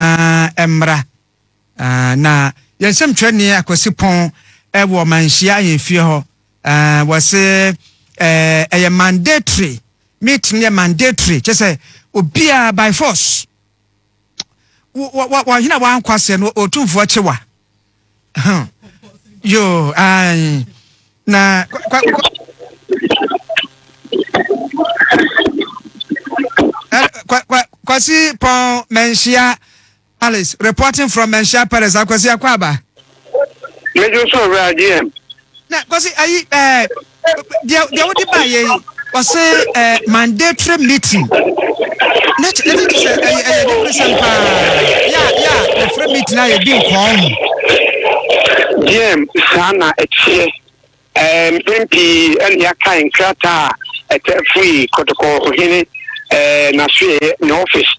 nyinaa mmra. Na yɛn nsɛmtwerɛni Akwasi Pɔn wɔ manhyia ahemfie hɔ. Wɔ se ɛyɛ mandatory meeting no yɛ mandatory kyɛ sɛ obiara by force wɔhena wankɔ aseɛ no ɔtumfoɔ kyewa. Huh. Yo, I. Na. Kwa, kwa, kwa, kwa, kwasi pon menshia Alice reporting from menshia Paris akwasi akwaba. Mejo so wura GM. Na kwasi ayi ɛɛ deɛ deɛ wode ba yɛ yi wɔse ɛɛ mandatory meeting na kyɛ ɛne kyɛ sɛ ɛyɛ ɛyɛ ne kurisɛm paa yɛ a yɛ a wɔfrɛ meeting a yɛdi nkɔɔ ho. Yɛm saa na ɛteɛ ɛɛ mpɛn pii ɛna yɛakae nkrataa a ɛtaa firi kɔtɔkɔ ɔhene ɛɛ n'asoɛeɛ ne office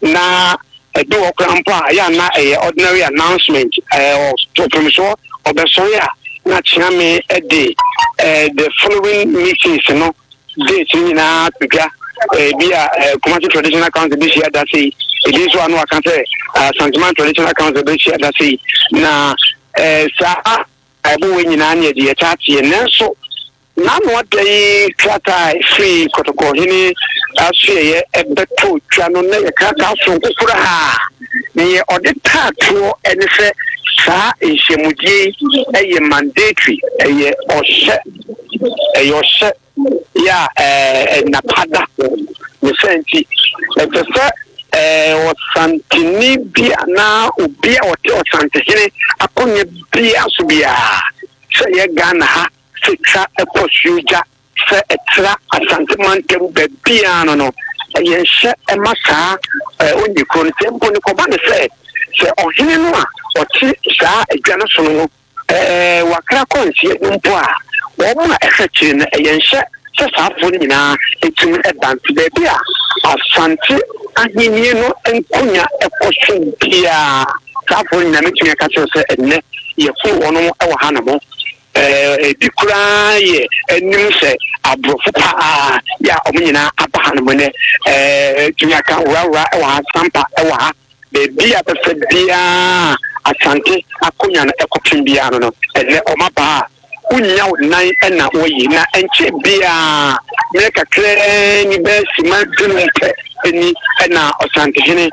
na ɛdu hɔ koraa mpo a, ɛyɛ a na ɛyɛ ordinary announcement. Ɛɛ, ɔto mfomsoɔ, ɔbɛsɔre a, na Kyeame de ɛɛ the following meetings no date no nyinaa to dwa. Ebi a ɛɛ Kumasi Traditional Council bɛhyia da sei, ebi nso a na waka sɛ Asanteman Traditional Council bɛhyia da sei, na ɛɛ saa ɛboɔ nyinaa ne ɛde yɛtaa teɛ nanso. N'ano adɛ yi krataa a ɛfirii Kɔtɔkɔ hene asoɛeɛ bɛtoo twa no na ɛyɛ krataa soronko koraa. Deɛ ɔde taa toɔ ne sɛ saa nhyiamudie yi yɛ mandatory, ɛyɛ ɔhyɛ, ɛyɛ ɔhyɛ yɛ a ɛɛ nna pa da. Ne saa nti, ɛsɛ sɛ ɛɛ Ɔsanteni bi anaa obi a ɔte Ɔsantehene akonnwa biara so biara, sɛ ɛyɛ Ghana ha Setra kɔ Suogya sɛ ɛtra Asante mantam baabiara no no, ɛyɛ nhyɛ ma saa a onnye kuro no. Sɛ mpo no kɔba no sɛ, sɛ ɔhene no a ɔte saa adwa no so no no wakra kɔ nseɛ no mpo a, wɔn a ɛhwɛ akyire no, ɛyɛ nhyɛ sɛ saa afoɔ no nyinaa tumi ba. Nti baabi a Asante ahennie no nkonya kɔ so biara, saa afoɔ no nyinaa mɛtumi aka kyerɛ wo sɛ ɛnnɛ yɛforo wɔn wɔ hanom. Ebi koraa yɛ anim sɛ aborɔfo paa yɛ a wɔn nyinaa aba hanom nnɛ. Tumi aka horahoraa wɔ ha, sampa wɔ ha. Baabi a bɛfa biara Asante akonwa no kɔpem biara no no, ɛnnɛ wɔn aba a wonnya wo nan na wɔayi. Na ɛnkyɛ biara, mmerɛ kakraa ni, bɛyɛ simma dunum pɛ ni na Ɔsantehene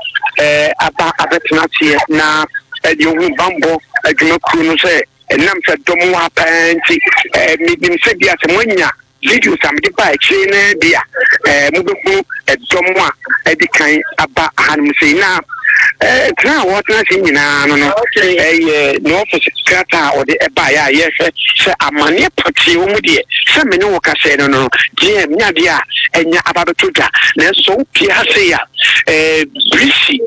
aba abɛtena aseɛ na deɛ ɔhunu bammɔ adwumakuo no sɛ Ɛnam sɛ dɔ mo wɔ ha pa ara nti, menim sɛ bi a sɛ moanya videos a mede baa akyire yi no ara bi a, mobɛhunu dɔ mo a adi kan aba hanom sei. Na tena a wɔtena ase nyinaa no no, ɛyɛ ne ɔfese krataa a ɔde baeɛ a yɛhwɛ sɛ amanneɛ pɔtee wɔ mu deɛ sɛ me ne wo kasɛɛ no no, deɛ ɛnyɛ adeɛ a anya aba abɛtɔ dwa. Nanso sɛ wopue ha sei a, birisi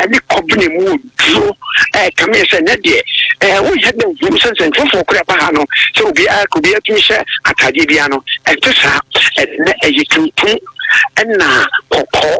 ne kɔben mu wɔ. so ɛkame sɛ nɛ deɛ ɛɛ wonyɛ dɛ nhunu sɛ nsɛnkyerɛfoɔ korɛ ba ha no sɛ obiara ka obiara tumi hyɛ ataadeɛ biara no ɛnte saa ɛnɛ ɛyɛ tuntum ɛna kɔkɔɔ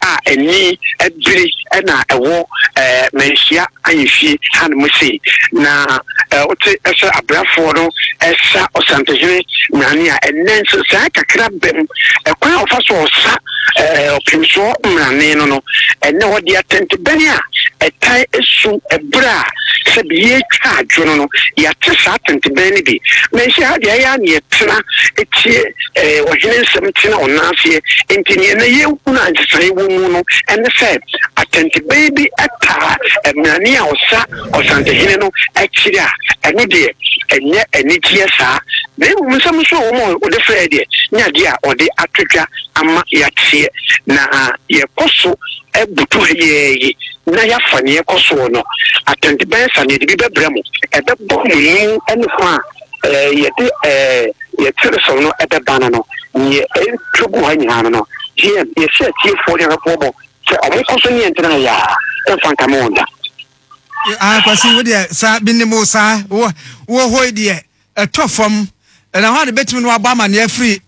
a ɛni ɛbiri ɛna ɛwɔ ɛɛ manhyia ayɛfie ha no mu sei na ɛɛ wote ɛsɛ abrafoɔ no ɛsa ɔsantehene nane a ɛnɛ nso saa kakra bɛm ɛkwan a wɔfa so ɔsa Ɔpemfoɔ Mmarane no no, ɛnnɛ ɔde atɛntɛbɛn a ɛtae su ɛberɛ a sɛbi yɛretwa adwo no no, yɛate saa atɛntɛbɛn no bi. Manhyia ha deɛ, ɛyɛ a na yɛtena tie ɔhene nsɛm tena wɔn nan aseɛ, enti deɛ na yɛhunu a nsesaeɛ wɔ mu no ne sɛ atɛntɛbɛn bi taa mmarane a ɔsa Ɔsantehene no akyiri a, ɛno deɛ ɛnyɛ anigyeɛ saa, na mmom nsɛm nso a wɔn a wɔde frɛeɛ deɛ nyɛ adeɛ a wɔde ato dwa. ama yɛateɛ, na yɛkɔ so butu ha yi ara yi na yɛafa nea ɛrekɔ soɔ no atɛnte bɛn sa na yɛde bi bɛbrɛ mo. Ɛbɛbɔ mo anim ne ho a yɛde yɛn teresoɔ no bɛba no no. Nea ɛretwa gu ha nyinaa no no, TM, yɛhyɛ atiefoɔ ne ahwɛfoɔ bɔ sɛ wɔnkɔ so ne yɛn ntena ha yi ara, ɛmfa nkame wɔn da. Ah, Kwasi, wo deɛ saa bi ne mo saa wɔ wɔ hɔ yi deɛ ɛtɔ fam na hwan de bɛtumi ne wabɔ amanneɛ afiri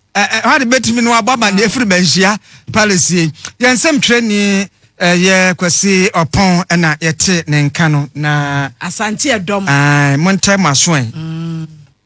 hwan de bɛtumi ne wabɔ amanneɛ afiri manhyia palace yi yɛn nsɛm twerɛni ɛyɛ kwasi ɔpɔn ɛna yɛte ne nka no na asante ɛdɔm mo ntɛ mo aso ɛ mm.